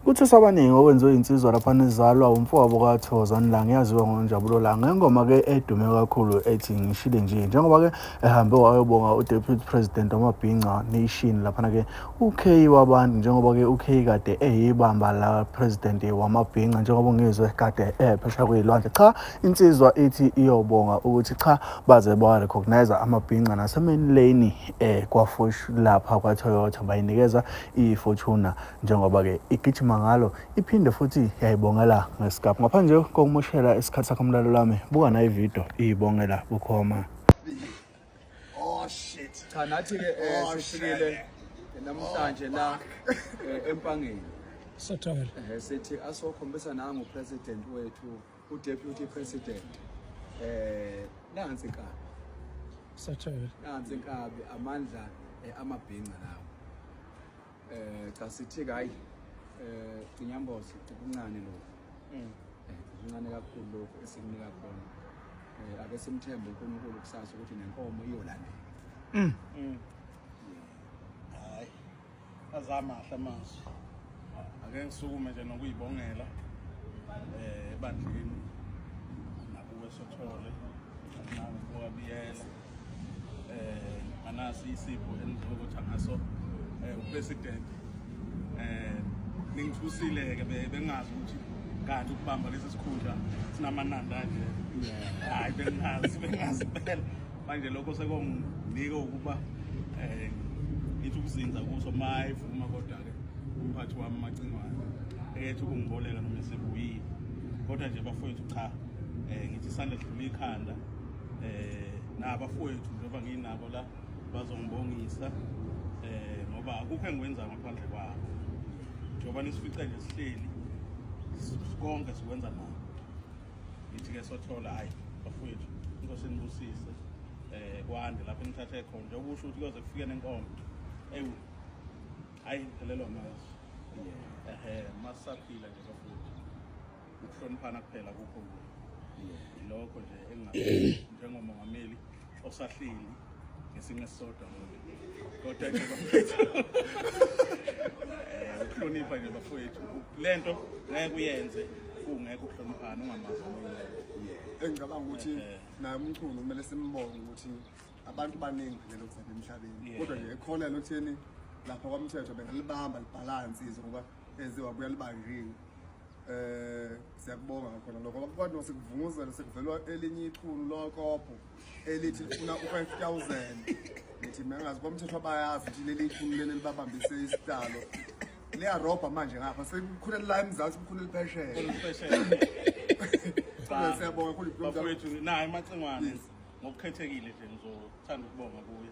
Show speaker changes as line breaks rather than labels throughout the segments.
Kuthuswa abaningi okwenziwe insizwa laphana izalwa umfowabo kaThozani Langa yaziwa ngoNjabulo Langa ngengoma ke edume kakhulu ethi ngishile nje njengoba ke ehambe wayobonga uDeputy President wamabhinca Nation laphana ke uK wabantu njengoba ke uK kade eyibamba la President wamabhinca njengoba ngizwe kade ephesha kuyilwandle cha insizwa ithi iyobonga ukuthi cha baze ba recognize amabhinca nasemenleni eh kwaFosh lapha kwaToyota bayinikeza iFortuna njengoba-ke igijima ngalo iphinde futhi yayibongela ngesikaphu ngaphandle kokumoshela isikhathi sakho mlalo lami buka nayo ividiyo iyibongela bukhoma
oh, cha nathi-ke um oh,
sifikile namhlanje la eh, empangeni sathola
sithi
asokhombisa nangupresident wethu udeputy president um nansi nkabi
sathola nansi nkabi
amandla amabhinca lawo eh cha sithi hayi eh inyambozo ukuncane lo mm. eh uncane kakhulu lokho esikunika khona eh ake simthembe uNkulunkulu kusasa ukuthi nenkomo iyolandela
mm. mm hayi azamahle amazwi ake ngisukume nje nokuyibongela eh ebandleni nakuwe sothole nakuwe biyela eh anasi isipho enizokutha ngaso eh upresident eh ningithusile ke bengazi ukuthi kanti ukubamba lesi sikhundla sinamananda nje hayi bengazi bengazi phela manje lokho sekonginike ukuba eh ngithi ukuzinza kuso mayivuma kodwa ke umphathi wami macingwane ekethi ukungiboleka noma esebuyile kodwa nje bafowethu cha eh ngithi isandla sidlula ikhanda eh nabafowethu njengoba nginabo la bazongibongisa eh ngoba akukho engikwenza ngaphandle kwabo njengoba nisifice nje sihleli konke sikwenza nabo ngithi ke sothola hayi bafowethu inkosi inibusise eh kwande lapho nithathe khona nje ukusho ukuthi kuyoze kufike nenkomo ewu hayi phelelwa mazi ehe masaphila nje bafowethu ukuhloniphana kuphela kukho lokho nje engingathi njengomongameli osahleli ngesinye esisodwa kodwa nje bafethu eh, ukuhlonipha nje bafethu le nto ngeke uyenze kungekho ukuhloniphana ungamazi omunye
engicabanga ukuthi eh, eh. naye umchunu kumele simbonge ukuthi abantu baningi vele lokuzala emhlabeni kodwa nje ekhona lokutheni lapha kwamthetho bengalibamba libhalansi izo ngoba eziwa kuyalibangiwe Eh siyakubonga ngakhona lokho abantu basekuvunguzela sekuvelwa elinye ichunu lokopho elithi lifuna u5000 ngithi mengazi kwamthetho abayazi ukuthi leli ichunu leli libabambise isitalo liyarobha manje ngapha sekukhulele la emzansi kukhulele phesheya siyabonga khulu bafowethu naye
macingwane ngokukhethekile nje ngizothanda ukubonga kuye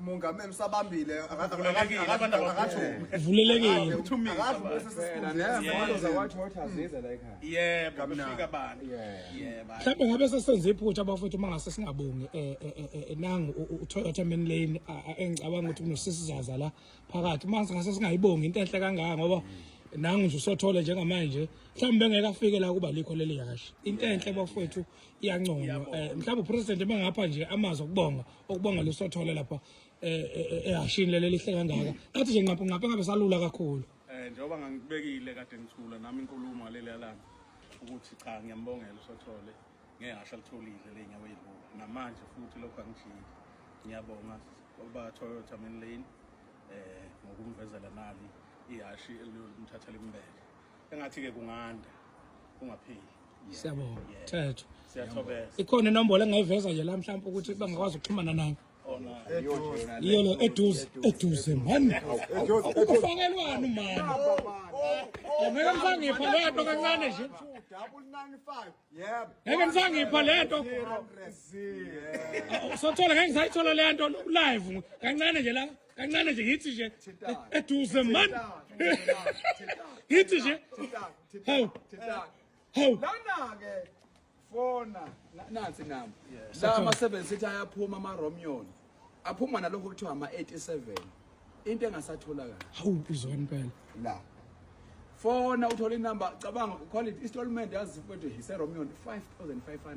Mongameli
usabambile vulelekile uthumile yebo kufika abantu
yebo mhlawumbe
ngabe sesenze iphutha abafowethu uma ngase singabongi eh, eh, eh, nangu uToyota main lane engicabanga ukuthi kunosisizaza la phakathi uma ngase singayibongi into enhle kangaka ngoba nangu nje usothole njengamanje mhlawumbe bengeke afike la kuba likho leli yashi into enhle bafowethu iyanconywa mhlawumbe upresident bengapha nje amazwi okubonga ukubonga lesothole lapha eh, eh, eh, ehashini leli lihle kangaka athi nje nqapha nqapha ngabe salula kakhulu eh njengoba ngangibekile
kade ngithula nami inkulumo leli alana ukuthi cha ngiyambongela usothole ngehasha litholile lenyawo ezibuka namanje futhi lokho angijiki ngiyabonga oba Toyota main lane eh ngokumvezela nali ihashi eliyomthatha limbele engathi ke kunganda kungapheli siyabonga
thetho siyathobesa ikhona
inombolo
engayiveza nje la mhlawumbe ukuthi bangakwazi ukuxhumana nayo yiyo lo eduze eduze mani ukufakelwani mani angeke msangipha le nto kancane
nje ngeke msangipha
le nto sothola ngeke ngisayithola le nto live kancane nje la kancane nje yithi nje eduze man yithi
nje
hawu
hawu lana-ke
fona nansi nami la ama-seven sithi ayaphuma ama-romion aphuma nalokho kuthiwa ama-87 into engasatholakala hawu uzwa
impela la
fona uthole inumber cabanga ukhole i-installment yazi mfowethu yiseromeo 5500